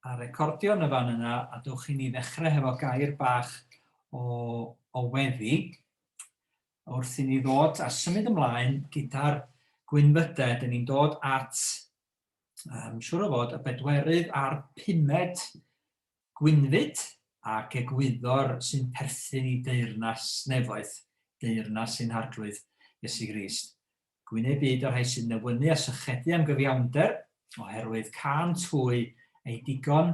a recordio yn y fan yna a dewch i ni ddechrau hefo gair bach o, o weddi wrth i ni ddod a symud ymlaen gyda'r gwynfydau. Dyn ni'n dod at, um, siwr o fod, y bedwerydd a'r pumed gwynfyd ac egwyddor sy'n perthyn i deyrnas nefoedd, deyrnas sy'n harglwydd Iesu Grist. Gwyneb byd o rhai sy'n newynnu a sychedu am gyfiawnder, oherwydd cân twy ei digon,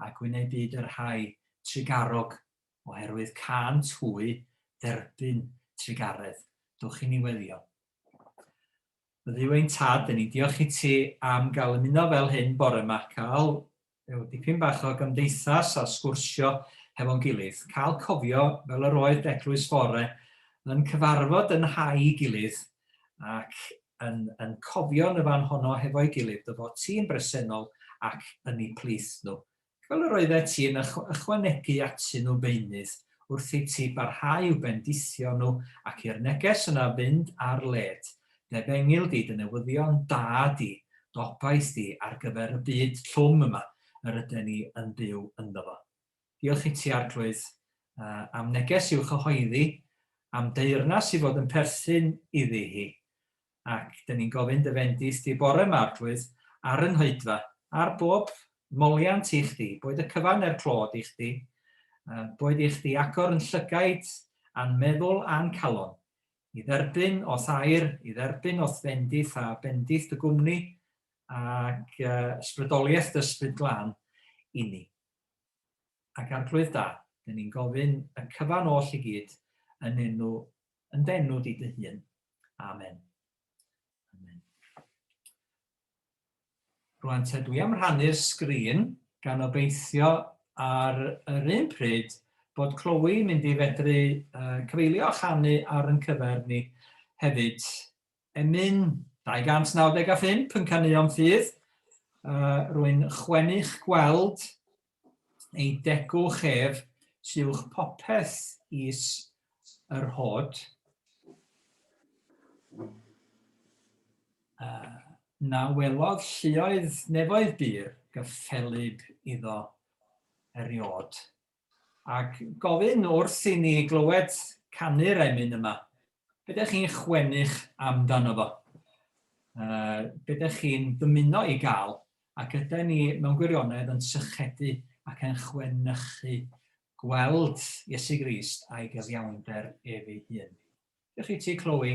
a gwyneb byd y rhai trugarog, oherwydd cân twy dderbyn trugaredd. Dwch i ni weddio. O Dduw ein Tad, dyn ni'n diolch i ti am gael ymuno fel hyn bore yma, cael Rhyw dipyn bach o gymdeithas a sgwrsio hefo'n gilydd. Cael cofio fel yr oedd Deglwys Fore yn cyfarfod yn nhai gilydd ac yn yn cofio yn y fan honno hefo'i gilydd. Dy fod ti'n bresennol ac yn eu plith nhw. Fel yr oeddet ti yn ychw ychwanegu atyn nhw beunydd wrth i ti barhau i'w bendithio nhw ac i'r neges yna fynd ar led. Dy bengil di, dy newyddion da di, d'obaith di ar gyfer y byd llwm yma yr yden ni yn byw ynddo fo. Diolch i ti, Arglwydd, am neges i'w chyhoeddi, am deyrnas i fod yn perthyn iddi hi. Ac dyn ni'n gofyn dy fendith di bore yma, Arglwydd, ar y Nghoedfa, ar bob moliant i chdi, boed y cyfan neu'r clod i chdi, boed i chdi agor yn llygaid, a'n meddwl a'n calon, i dderbyn os air, i dderbyn os bendith a bendith dy gwmni ac ysbrydoliaeth dy ysbryd glân i ni. Ac arglwydd da, dyn ni'n gofyn y cyfan oll i gyd yn enw, yn denw di dy hun. Amen. Amen. Rwan te dwi am rhannu'r sgrin gan obeithio ar yr un pryd bod Chloe yn mynd i fedru cyfeilio a chanu ar yn cyfer ni hefyd. Emyn 295 yn canuo'n ffydd. Rwy'n chwenu'ch gweld ei degwch ef siwch popeth is yr hod, uh, na welodd lluoedd nefoedd bur gyffelyb iddo eriod. Ac gofyn wrth i ni glywed canu'r emyn yma, Be dych chi'n chwennych amdano fo? Uh, be dych chi'n dymuno i gael? Ac ydy ni mewn gwirionedd yn sychedu ac yn chwenychu gweld Iesu Grist a'i gyfiawnder ef ei hun? Dych chi ti, Chloe?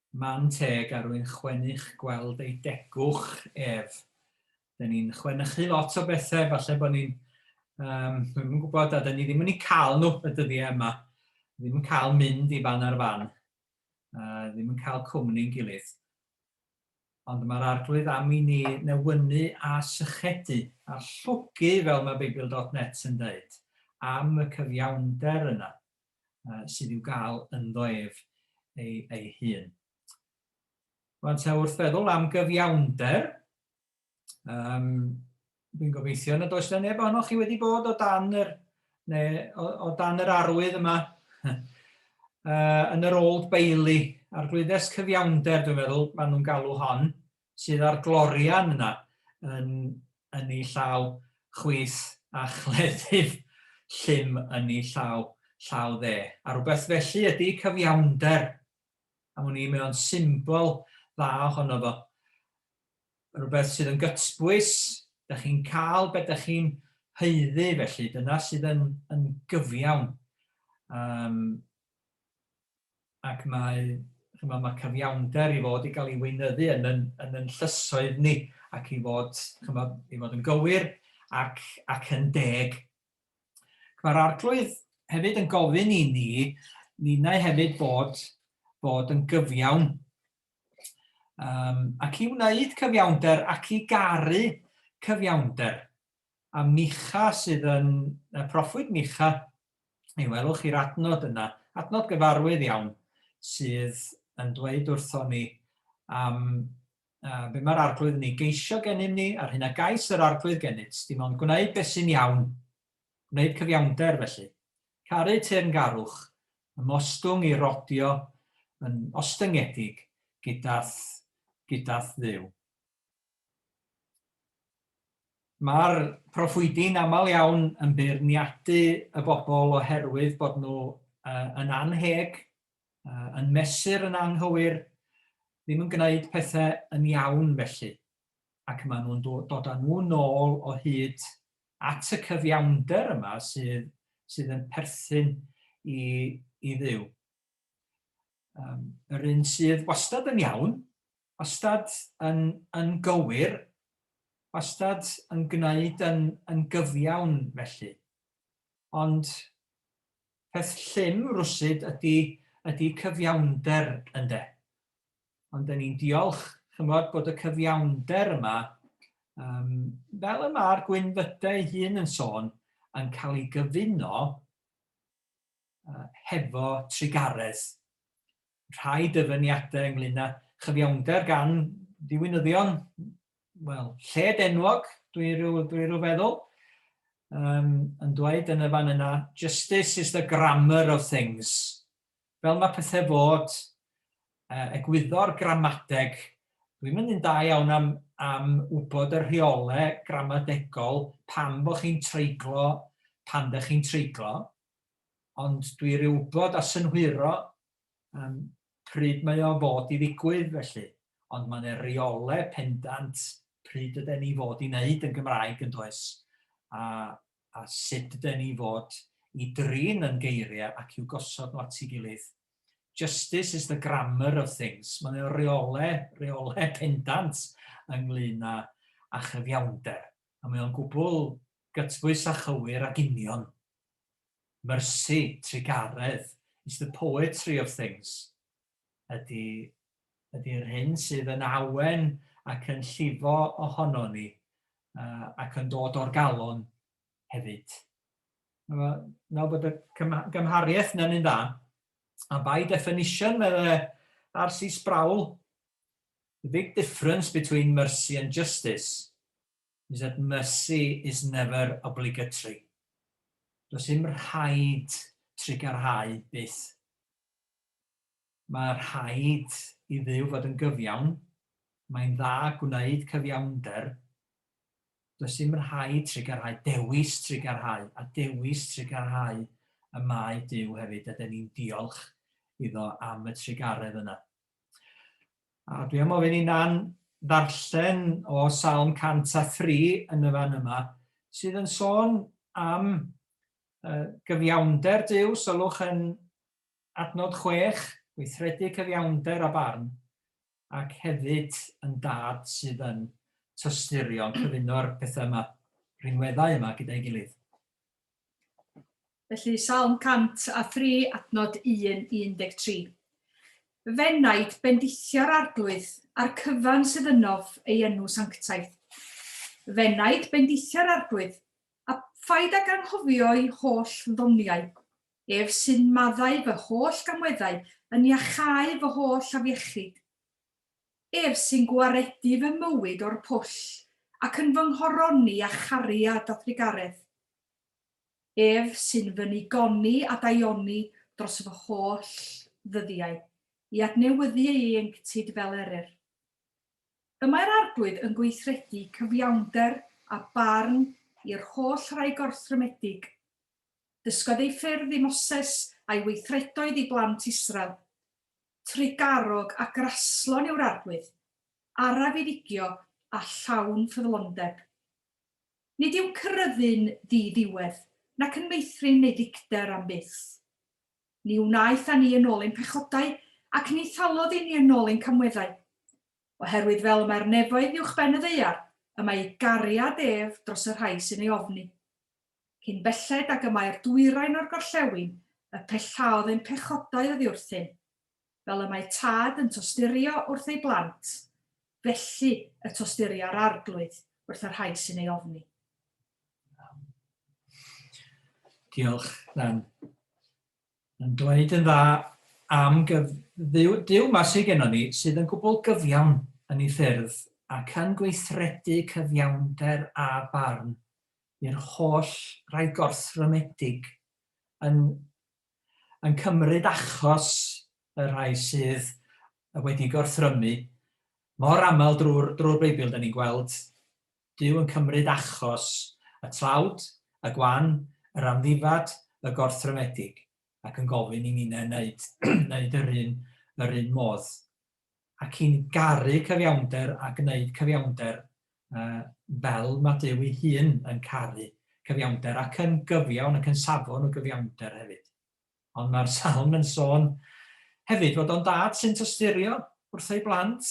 Ma'n teg a rwy'n chwennych gweld ei degwch ef. Dyn ni'n chwenychu lot o bethau, falle bod ni'n, um, dwi'm yn gwybod, a dyn ni ddim yn ei cael nhw y dyddiau yma. Ddim yn cael mynd i fan ar fan. Uh, ddim yn cael cwmni'n gilydd. Ond mae'r arglwydd am i ni newynu a sychedu a llogu, fel mae Beibl.net yn dweud, am y cyfiawnder yna. uh, sydd i'w gael ynddo ef ei, ei hun. Rwan ta wrth feddwl am gyfiawnder, um, dwi'n gobeithio nad oes yna neb ohonoch chi wedi bod o dan yr, neu, o, o dan yr arwydd yma uh, yn yr Old Bailey, a'r glwyddes cyfiawnder dwi'n meddwl maen nhw'n galw hon, sydd â'r glorian yna yn, yn ei llaw chwith a chleddyf llym yn ei llaw, llaw dde. A rhywbeth felly ydy cyfiawnder. Am wn i, mae o'n symbol dda ohono fo. Rhywbeth sydd yn gytbwys, da chi'n cael beth da chi'n heiddi, felly dyna sydd yn, yn gyfiawn. Um, ac mae, chimod, mae cyfiawnder i fod i gael ei weinyddu yn yn yn yn llysoedd ni, ac i fod, chimod, i fod yn gywir ac ac yn deg. Mae'r Arglwydd hefyd yn gofyn i ni, ninnau hefyd bod bod yn gyfiawn um, ac i wneud cyfiawnder ac i garu cyfiawnder. A Micha sydd yn y proffwyd Micha, mi welwch chi'r adnod yna, adnod gyfarwydd iawn, sydd yn dweud wrthon ni am uh, be mae'r arglwydd yn ei geisio gennym ni, a'r hyn a gais yr arglwydd gennyt, dim ond gwneud beth sy'n iawn, gwneud cyfiawnder felly. Caru teyrngarwch, ymostwng i rodio yn ostyngedig gydath, gydath ddiw. Mae'r proffwydi'n aml iawn yn beirniadu y bobl oherwydd bod nhw yn annheg, yn mesur yn anghywir, ddim yn gwneud pethau yn iawn felly, ac maen nhw'n dod â nhw nôl o hyd at y cyfiawnder yma sydd sydd yn perthyn i i Dduw. Yr un sydd wastad yn iawn, Wastad yn yn gywir, wastad yn gwneud yn yn gyfiawn felly. Ond peth llym rwsud ydy ydy cyfiawnder ynde? Ond dan ni'n diolch ch'mod bod y cyfiawnder yma yym fel y ma'r gwynfyde ei hun yn sôn yn cael ei gyfuno yy hefo trugaredd rhai dyfyniadau ynglyn â chyfiawnder gan ddiwinyddion, wel, lled enwog, dwi rhyw, dwi rhyw feddwl, um, yn dweud yn y fan yna, justice is the grammar of things. Fel mae pethau fod, uh, egwyddor gramadeg, dwi'n mynd yn da iawn am, am wybod y rheolau gramadegol pan bod chi'n treiglo, pan ddech chi'n treiglo, ond dwi ryw wybod a synhwyro yym pryd mae o fod i ddigwydd felly, ond mae 'na reole pendant pryd yden ni fod i wneud yn Gymraeg yn does, a a sut yden ni fod i drin yn geiriau ac i'w gosod nhw at ei gilydd. Justice is the grammar of things, mae 'na reole, reole pendant ynglyn â a chyfiawnder, a mae o'n gwbl gytbwys a chywir ac union. Mercy trugaredd is the poetry of things ydy, ydy'r hyn sydd yn awen ac yn llifo ohono ni uh, ac yn dod o'r galon hefyd. Nawr bod y gymhariaeth yna'n un dda, a by definition, meddwl R.C. Sproul, the big difference between mercy and justice is that mercy is never obligatory, does dim rhaid trugarhau byth. Mae rhaid i Dduw fod yn gyfiawn, mae'n dda gwneud cyfiawnder, does dim rhaid trugarhau, dewis trugarhau, a dewis trugarhau y mae Duw hefyd, a dyn ni'n diolch iddo am y trugaredd yna. A dwi am ofyn i Nan ddarllen o Salm 103 yn y fan yma, sydd yn sôn am uh, gyfiawnder Dyw, sylwch yn adnod chwech, gweithredu cyfiawnder a barn, ac hefyd yn dad sydd yn tysturiol, cyfuno'r pethau yma, rhinweddau yma gyda'i gilydd. Felly, Salm 103, adnod 1 i 13. Fenaid bendithio'r arglwydd, a'r cyfan sydd ynof ei enw sanctaidd. Fenaid bendithio'r arglwydd, a phaid ag anghofio'i holl ddoniau. Ef sy'n maddau fy holl gamweddau, yn iachau fy holl afiechyd. Ef sy'n gwaredu fy mywyd o'r pwll, ac yn fy nghoroni â chariad a thrugaredd. Ef sy'n fy nigoni a daioni dros fy holl ddyddiau, i adnewyddu ei ieuenctid fel eryr. Y mae'r Arglwydd yn gweithredu cyfiawnder a barn i'r holl rai gorthrymedig. Dysgodd ei ffyrdd i Moses a'i weithredoedd i blant Israel. Trugarog a graslon yw'r Arglwydd, araf i ddigio a llawn ffyddlondeb. Nid yw Cyryddyn ddi-ddiwedd, nac yn meithrin neu ddicter am byth. Ni wnaeth â ni yn ôl ein pechodau, ac ni thalodd i ni yn ôl ein camweddau. Oherwydd fel y mae'r nefoedd uwchben y ddaear, y mae ei gariad ef dros y rhai sy'n ei ofni. Cyn belled ag y mae'r dwyrain o'r gorllewin, y pellaodd ein pechodau oddiwrthyn. fel y mae tad yn tosturio wrth ei blant, felly y tosturia'r Arglwydd wrth y rhai sy'n ei ofni. Diolch, Dan. Yn dweud yn dda am gyf... Dduw, Duw ma sydd gennon ni, sydd yn gwbl gyfiawn yn ei ffyrdd ac yn gweithredu cyfiawnder a barn i'r holl rai gorthrymedig yn yn cymryd achos y rhai sydd wedi gorthrymu, mor aml drwy'r drwy'r Beibl dan ni'n gweld Duw yn cymryd achos y tlawd, y gwan, yr amddifad, y gorthrymedig, ac yn gofyn i ninnau wneud wneud yr un yr un modd. ac i'n garu cyfiawnder a gwneud cyfiawnder fel mae Duw ei hun yn caru cyfiawnder ac yn gyfiawn ac yn safon o gyfiawnder hefyd. Ond mae'r salm yn sôn hefyd fod o'n dad sy'n tosturio wrth ei blant,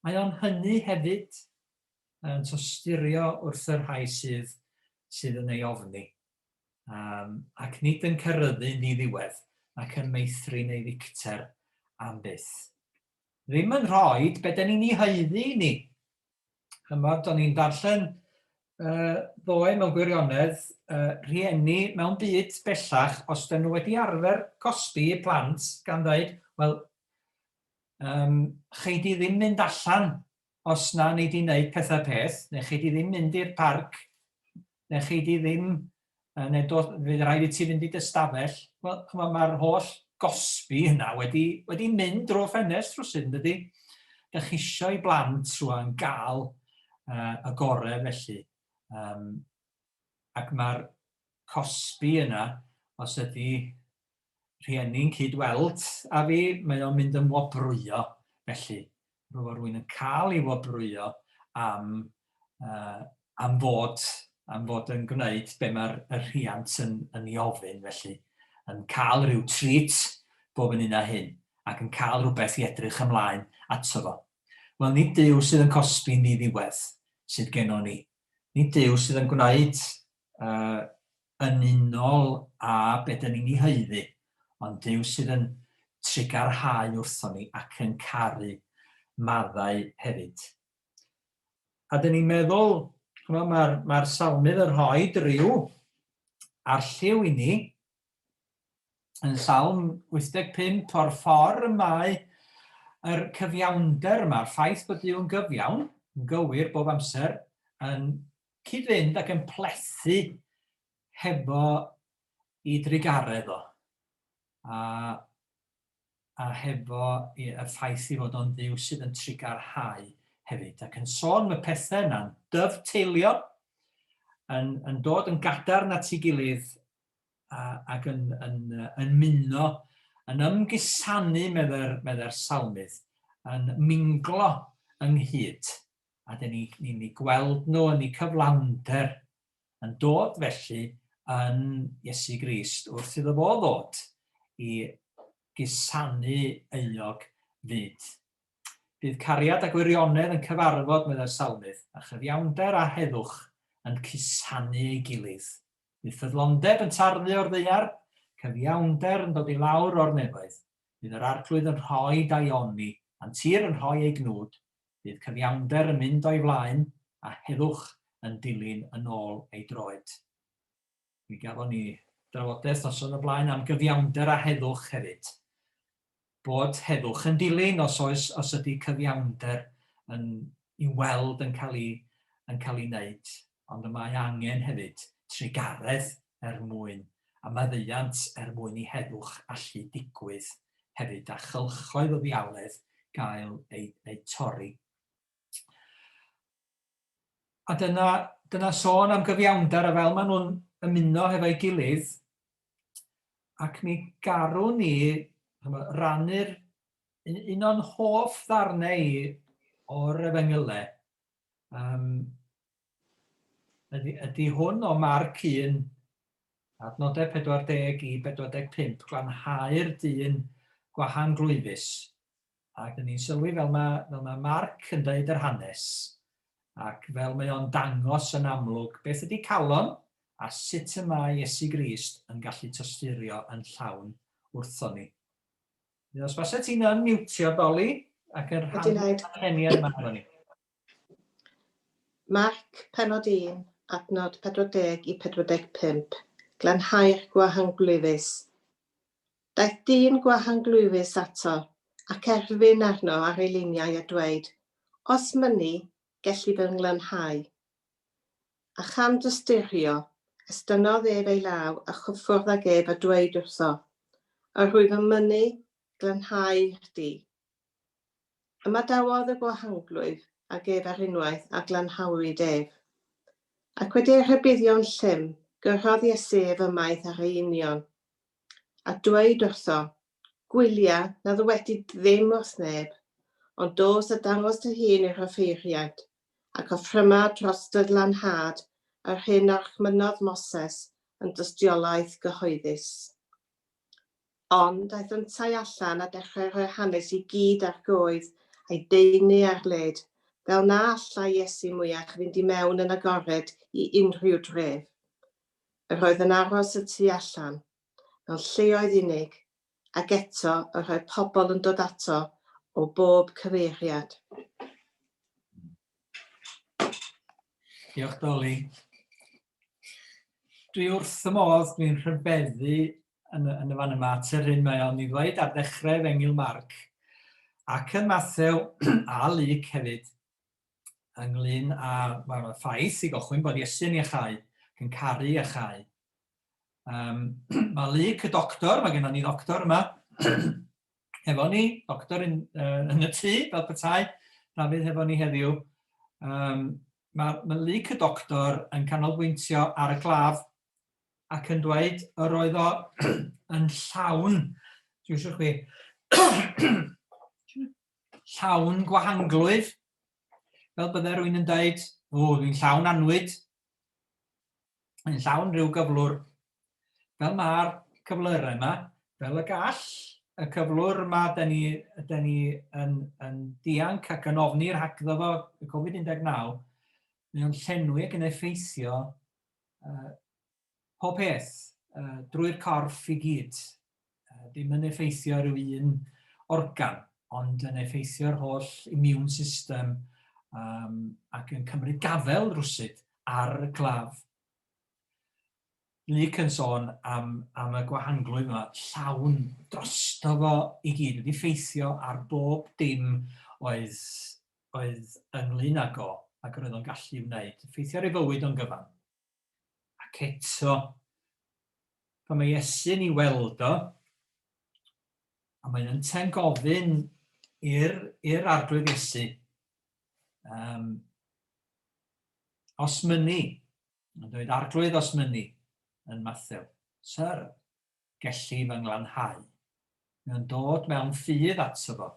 mae o'n hynny hefyd yn tosturio wrth y rhai sydd, sydd yn ei ofni. ac nid yn cyrryddu yn diddiwedd ac yn meithrin ei ddicter am byth. Ddim yn rhoi be da ni'n ei haeddu i ni. Chymod, o'n i'n darllen uh, ddoe mewn gwirionedd uh, rhieni mewn byd bellach, os dyn nhw wedi arfer cosbi i plant gan ddweud, wel, um, chei di ddim mynd allan os na nei di wneud pethau peth, neu chei di ddim mynd i'r parc, neu chei di ddim, neu do, fydd rhaid i ti fynd i dy stafell, wel, chymod, mae'r holl gosbi yna wedi, wedi mynd drwy ffenest rhywsyd, yn dydy? Dych chi eisiau i blant rwan gael uh, y gorau felly. Um, ac mae'r cosbi yna, os ydy rhieni'n cyd-weld â fi, mae o'n mynd yn wobrwyo, felly roedd rwy'n yn cael ei wobrwyo am, uh, am fod am fod yn gwneud be mae'r rhiant yn, yn ei ofyn, felly yn cael rhyw treat bob yn un a hyn, ac yn cael rhywbeth i edrych ymlaen ato fo. Wel, nid Duw sydd yn cosbi'n ddiddiwedd sydd genon ni. Nid Duw sydd yn gwneud yn unol â be dan ni'n ei haeddu, ond Duw sydd yn trugarhau wrthon ni ac yn caru maddau hefyd. A dan ni'n meddwl, chymod, mae'r mae salmydd yn rhoi rhyw arlliw i ni, yn salm 85 o'r ffordd y mae yr cyfiawnder yma, ffaith bod Duw'n gyfiawn, yn gywir bob amser, yn cyd-fynd ac yn plethu hefo ei drugaredd o, a, a hefo y ffaith ei fod o'n dduw sydd yn trugarhau hefyd, ac yn sôn y pethau yna'n dyfteilio, yn, yn dod yn gadarn at ei gilydd ac yn, yn, yn muno, yn ymgusanu, meddai'r meddai salmydd, yn minglo ynghyd. a dyn ni ni'n eu gweld nhw yn eu cyflawnder yn dod felly yn Iesu Grist wrth iddo fo ddod i gusanu euog fyd. Bydd cariad a gwirionedd yn cyfarfod, meddai'r salmydd, a chyfiawnder a heddwch yn cusanu ei gilydd. Bydd ffyddlondeb yn tarddu o'r ddaear, cyfiawnder yn dod i lawr o'r nefoedd. Bydd yr arglwydd yn rhoi daioni, a'n tir yn rhoi ei gnwd, Bydd cyfiawnder yn mynd o'i flaen a heddwch yn dilyn yn ôl ei droed. Mi gafon ni drafodaeth noson o blaen am gyfiawnder a heddwch hefyd. Bod heddwch yn dilyn os oes os ydy cyfiawnder yn i'w weld yn cael ei yn cael ei wneud. Ond y mae angen hefyd trugaredd er mwyn, a maddeuant er mwyn i heddwch allu digwydd hefyd a chylchoedd o ddiawledd gael eu eu torri. A dyna dyna sôn am gyfiawnder a fel maen nhw'n ymuno hefo'i gilydd ac mi garwn ni rannu'r un, un o'n hoff ddarnau i o'r efengylau um, Ydy, ydy hwn o Marc 1, adnodau 40 i 45, glanhau'r dyn gwahanglwyfus. Ac ni'n sylwi fel mae, fel mae Marc yn dweud yr hanes, ac fel mae o'n dangos yn amlwg beth ydy calon a sut y mae Iesu Grist yn gallu tosturio yn llawn wrthon ni. Os basau ti'n unmutio, Doli, ac yn rhan o'r yma efo ni. Marc, Pennod 1, adnod 40 i 45, Glanhau'r gwahanglwyfus. Daeth dyn gwahanglwyfus ato, ac erfyn arno ar ei liniau a dweud, Os mynni, gelli fy nglanhau. A chan dystyrio, estynnodd ef ei law a chyffwrdd ag ef a dweud wrtho, Yr wyf yn mynnu, glanhau di. Ymadawodd y gwahanglwyf ag ef ar unwaith a glanhawyd ef. Ac wedi ei rhybuddio'n llym, gyrhaodd Iesu ef ymaith ar ei union, a dweud wrtho, Gwylia na ddywedid ddim wrth neb, ond dos a dangos dy hun i'r offeiriaid, ac offryma dros dy lanhad yr hyn a orchmynnodd Moses yn dystiolaeth gyhoeddus. Ond aeth yntau allan a dechrau rhoi hanes i gyd ar goed a'i deunu ar led, fel na allai Iesu mwyach fynd i mewn yn agored i unrhyw dref. Yr oedd yn aros y tu allan, mewn lleoedd unig, ac eto yr oedd pobl yn dod ato o bob cyfeiriad. Diolch, Doli. Dwi wrth y modd, dwi'n rhyfeddu yn, yn y fan yma at yr hyn mae o'n ei ddweud ar ddechrau Efengil Marc ac yn Mathew a Luc hefyd ynglyn â mae'r ffaith i gochwyn bod Iesu'n iachau, yn caru a chau. Um, mae Luc y doctor, mae gennym ni ddoctor yma, hefo ni, doctor yn, uh, yn y tŷ, fel petai, Dafydd hefo ni heddiw. Um, mae, mae Luc y doctor yn canolbwyntio ar y claf ac yn dweud yr oedd o yn llawn, dwi'n siŵr chwi, llawn gwahanglwydd, fel bydde rwy'n yn dweud, o, dwi'n llawn anwyd, yn llawn rhyw gyflwr Fel mae'r cyflyrau yma, fel y gall y cyflwr yma, da ni, da ni yn, yn dianc ac yn ofni rhagddo fo y Covid-19, mae o'n llenwi ac yn effeithio uh, pob peth uh, drwy'r corff i gyd. Uh, dim yn effeithio rhyw un organ, ond yn effeithio'r holl immune system um, ac yn cymryd gafel rwsyd ar y claf. Luke yn sôn am, am y gwahanglwyf yma, llawn drosto fo i gyd, wedi ffeithio ar bob dim oedd, oedd ynglyn ag o, ac yr oedd o'n gallu wneud, ffeithio ar ei fywyd o'n gyfan. Ac eto, pan mae Iesu'n ei weld o, a mae'n ynten gofyn i'r arglwydd Iesu, um, os myni, Mae'n dweud, Arglwydd, os mynni, yn Mathew, Syr, gelli fy nglanhau. Mae o'n dod mewn ffydd ato fo.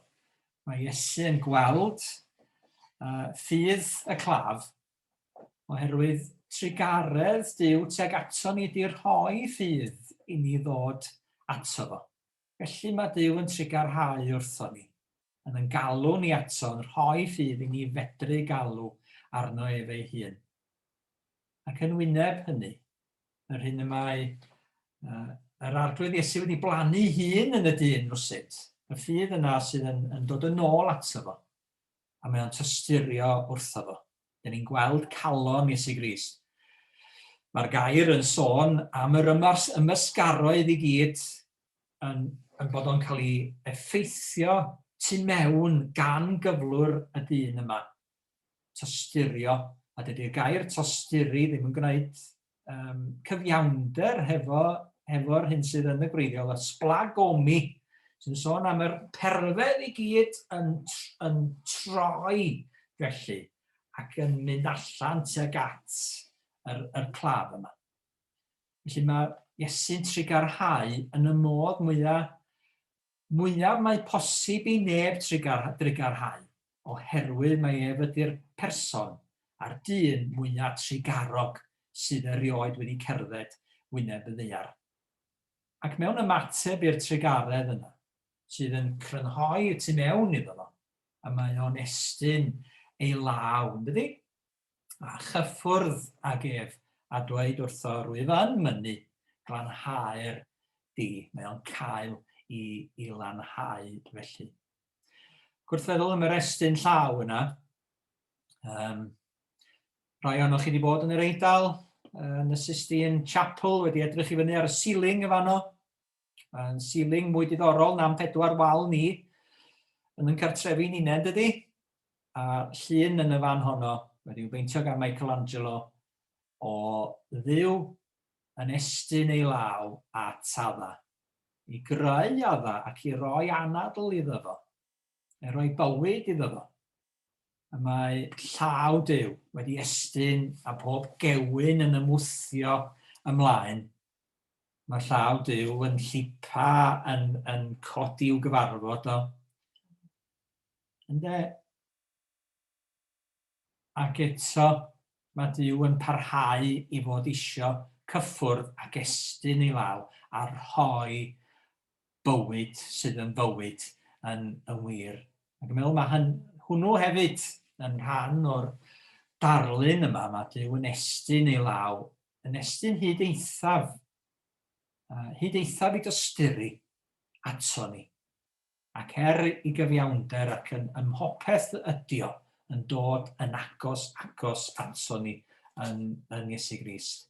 Mae Iesu yn gweld uh, ffydd y claf oherwydd trugaredd Dyw teg ato ni di rhoi ffydd i ni ddod ato fo. Felly mae Duw yn trugarhau wrthon ni, yn yn galw ni ato, yn rhoi ffydd i ni fedru galw arno ef ei hun. Ac yn wyneb hynny, yr hyn y mae uh, yr arglwydd Iesu wedi blannu hun yn y dyn rwsut, y ffydd yna sydd yn, yn dod yn ôl ato fo, a mae o'n tysturio wrtho fo. Dyn ni'n gweld calon Iesu Grist. Mae'r gair yn sôn am yr ymars ymysgaroedd i gyd yn, yn bod o'n cael ei effeithio tu mewn gan gyflwr y dyn yma. Tosturio, a dydy'r gair tosturi ddim yn gwneud um, cyfiawnder hefo, hefo'r hyn sydd yn y gwreiddiol, y splagomi, sy'n sôn am yr perfedd i gyd yn, yn troi felly ac yn mynd allan tuag at yr, yr claf yma. Felly mae Iesu'n trigarhau yn y modd mwyaf mwyaf mae posib i neb drugarhau, oherwydd mae ef ydy'r person a'r dyn mwyaf trugarog sydd erioed wedi cerdded wyneb y ddaear. Ac mewn ymateb i'r trugaredd yna, sydd yn crynhoi y tu mewn iddo fo, y mae o'n estyn ei law, yndydi? a chyffwrdd ag ef, a dweud wrtho, Rwyf yn mynnu, glanhau'r di. Mae o'n cael i, i lanhau felly. Gwrthfeddwl am yr estyn llaw yna. Um, rhai ohonoch chi wedi bod yn yr Eidal, yn y Sistine Chapel, wedi edrych i fyny ar y ceiling y fanno. Mae'n ceiling mwy diddorol na'n pedwar wal ni yn yn cartrefi ninne, dydy? A llun yn y fan honno, wedi'w beintio gan Michelangelo, o dduw yn estyn ei law at adda, i greu adda ac i roi anadl iddo fo, i roi bywyd iddo fo. A mae llaw Duw wedi estyn a pob gewyn yn ymwthio ymlaen Mae llaw Duw yn llipa, yn, yn codi i'w gyfarfod o. Ynde? Ac eto, mae Duw yn parhau i fod isio cyffwrdd ac estyn ei law a rhoi bywyd sydd yn fywyd yn, yn wir. Ac yn meddwl mae hyn, hwnnw hefyd yn rhan o'r darlun yma, mae Duw yn estyn ei law yn estyn hyd eithaf, hyd eithaf i dysturu ato ni. Ac er i gyfiawnder ac yn ymhopeth ydio yn dod yn agos, agos ato ni yn, yn Iesu Grist.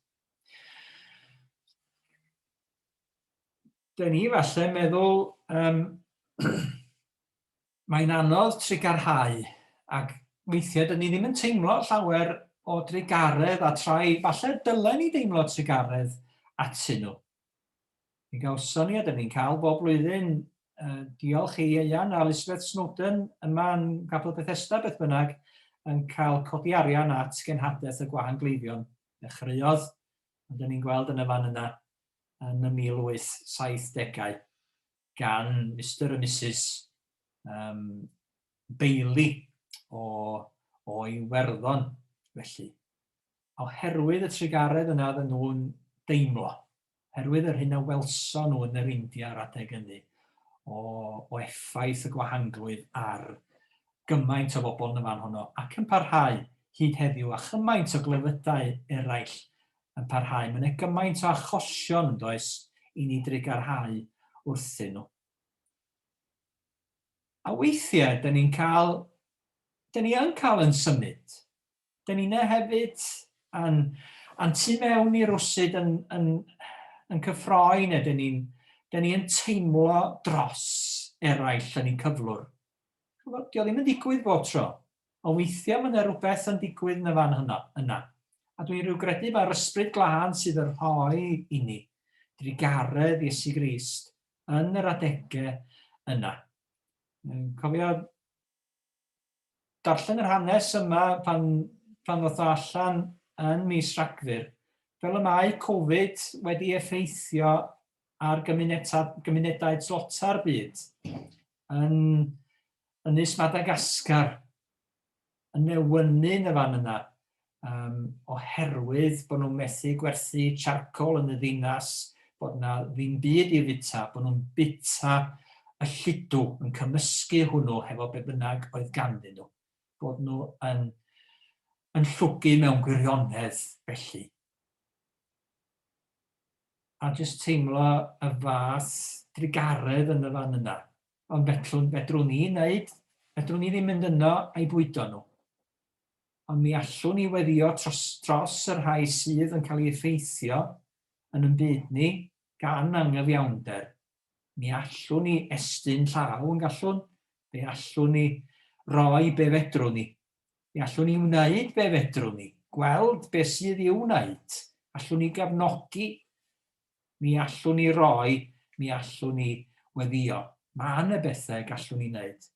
Dyna ni falle meddwl um, Mae'n anodd trugarhau, ac weithiau dyn ni ddim yn teimlo llawer o drugaredd a trai falle dylen ni deimlo trugaredd atyn nhw. Mi gawson ni a dyn ni'n cael bob blwyddyn, uh, diolch i Ieuan a Elizabeth Snowden yma yn Capel Bethesda beth bynnag, yn cael codi arian at genhadaeth y gwahan gleifion. Dechreuodd, ond dyn ni'n gweld yn y fan yna, yn y 1870au. gan Mister a Misus yym Bailey o o Iwerddon felly, oherwydd y trugaredd yna oedden nhw'n deimlo, oherwydd yr hyn a welson nhw yn yr India yr adeg ynny o o effaith y gwahanglwydd ar gymaint o bobl yn y fan honno ac yn parhau hyd heddiw a chymaint o glefydau eraill yn parhau. Mae yna gymaint o achosion, yn does, i ni drugarhau wrthyn nhw. A weithiau, da ni'n cael, da ni yn cael yn symud. Da ni yna hefyd, a'n, an tu mewn i'r rwsyd yn, yn, yn cyffroi, neu da ni'n da ni yn teimlo dros eraill yn ein cyflwr. Dio ddim yn digwydd bob tro. Ond weithia ma na rwbeth yn digwydd na fan hyno, yna. A dwi rhyw gredu ma'r ysbryd glân sydd yn rhoi inni drugaredd Iesu Grist yn yr adege yna. Yn cofio darllen yr hanes yma pan, pan ddoth o allan yn mis Rhagfyr, fel y mae Covid wedi effeithio ar gymunedau tlota'r byd. yn Ynys Madagascar, yn newynu'n y fan yna, um, oherwydd bod nhw'n methu gwerthu charcoal yn y ddinas, bod yna ddim byd i fita, bod nhw'n bita y lludw yn cymysgu hwnnw hefo be bynnag oedd ganddyn nhw, bod nhw yn, yn llwgu mewn gwirionedd felly. a jyst teimlo y fath drugaredd yn y fan yna. Ond fedrwn, fedrwn ni wneud, fedrwn ni ddim mynd yno a'i bwydo nhw. Ond mi allwn ni weddio tros, tros y rhai sydd yn cael ei effeithio yn yn byd ni gan anghyfiawnder. Mi allwn ni estyn llaw yn gallwn, fe allwn ni roi be fedrwn ni. Fe allwn ni wneud be fedrwn ni, gweld beth sydd i'w wneud, allwn ni gefnogi, mi allwn ni roi, mi allwn ni weddïo. Mae yna bethau y gallwn ni wneud.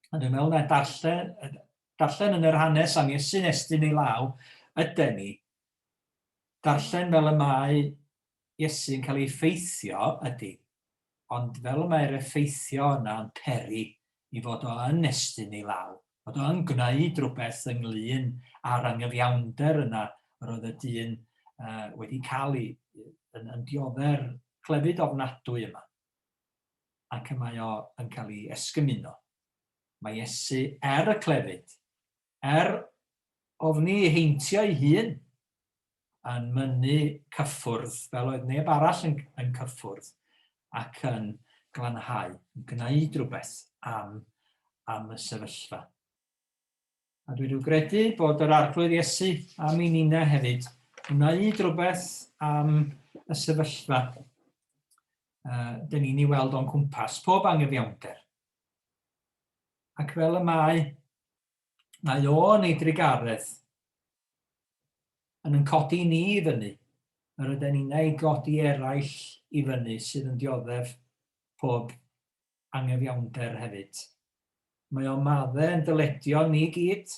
A dwi'n meddwl na darllen, darllen yn yr hanes am Iesu'n estyn ei law, yden ni. Darllen fel y mae Iesu yn cael ei effeithio, ydy, ond fel y mae'r effeithio yna yn peri i fod o yn estyn ei law, fod o yn gwneud rhywbeth ynglŷn â'r angyfiawnder yna yr oedd y dyn uh, wedi cael ei, yn, yn diodde'r clefyd ofnadwy yma. Ac y mae o yn cael ei esgymuno. Mae Iesu er y clefyd Er ofni ei heintio ei hun yn mynnu cyffwrdd fel oedd neb arall yn yn cyffwrdd ac yn glanhau, yn gwneud rhywbeth am am y sefyllfa. A dwi wedi credu bod yr Arglwydd Iesu am i Nina hefyd wneud rhywbeth am y sefyllfa uh, dyn ni'n ei weld o'n cwmpas, pob anghyfiawnder. Ac fel y mae Mae o yn ei drugaredd yn yn codi ni i fyny, yr yden inna i godi eraill i fyny sydd yn dioddef pob angyfiawnder hefyd. Mae o madde yn dyledion ni gyd,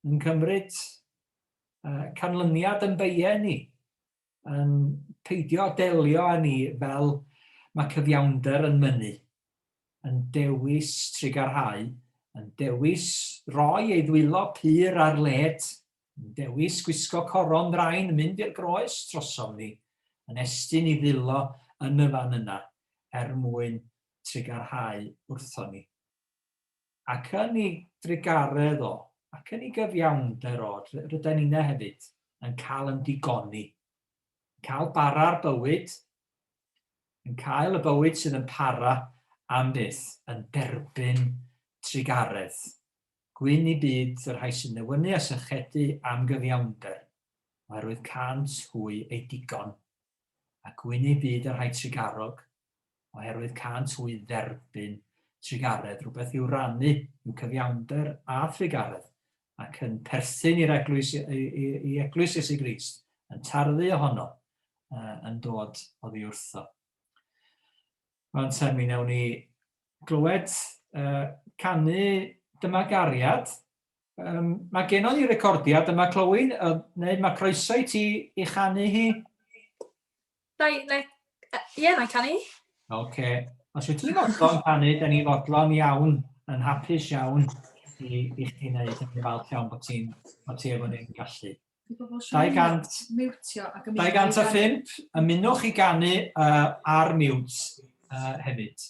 yn cymryd uh, canlyniad yn beie ni, yn peidio â delio â ni fel mae cyfiawnder yn mynnu, yn dewis trugarhau, yn dewis rhoi ei ddwylo pur ar led, yn dewis gwisgo coron ddrain yn mynd i'r groes drosom ni, yn estyn ei ddwylo yn y fan yna er mwyn trugarhau wrthon ni. ac yn ei drugaredd o, ac yn ei gyfiawnder o, ryda ninne hefyd yn cael yn digoni, yn cael bara'r bywyd, yn cael y bywyd sydd yn para am byth, yn derbyn trugaredd. Gwyn i byd y rhai sy'n newynu a sychedu am gyfiawnder, oherwydd cant hwy ei digon, a gwyn i byd y rhai trugarog, oherwydd cânt hwy dderbyn trugaredd, rhywbeth i'w rannu, i'w cyfiawnder a thrugaredd, ac yn perthyn i'r eglwys, i, i, i eglwys Iesu Grist, yn tarddu ohono, uh, yn dod oddi wrtho. Mae'n te mi newn ni glywed uh, canu dyma gariad. Um, mae genon ni recordiad yma, Clywyn, uh, neu mae croeso i ti i chanu hi? Na i, na i, ie, na i canu. Oce. Os wyt ti'n fodlon canu, da ni fodlon iawn, yn hapus iawn i, i chdi wneud yn falch iawn bod ti'n bod ti efo ni'n gallu. 200, 205, ymunwch i ganu uh, ar mute uh, hefyd.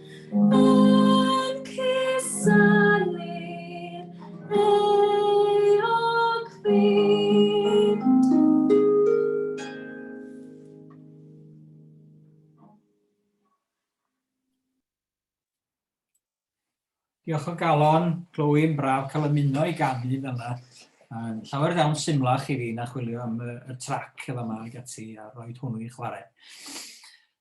Diolch o galon, Glywyn, braf cael ymuno i ganu fel yna. Um, llawer iawn symlach i fi na chwilio am y, y trac y fama ag ati a roed hwnnw i chwarae.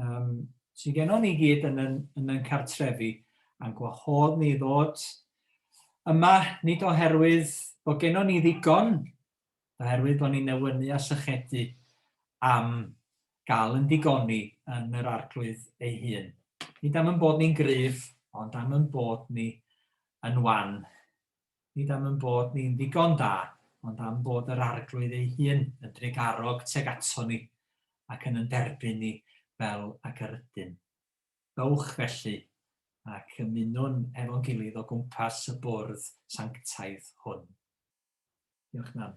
um, sydd gennon ni gyd yn yn, yn yn cartrefi, a'n gwahodd ni ddod yma, nid oherwydd bod gennon ni ddigon, oherwydd bod ni'n newynu a sychedu am gael yn digoni yn yr arglwydd ei hun. Nid am yn bod ni'n gryf, ond am yn bod ni yn wan. nid am ein bod ni'n ddigon da, ond am fod yr Arglwydd ei hun yn drugarog tuag aton ni, ac yn yn derbyn ni fel ag yr ydym. Dowch, felly, ac ymunwn hefo'n gilydd o gwmpas y bwrdd sanctaidd hwn. Diolch, Nan.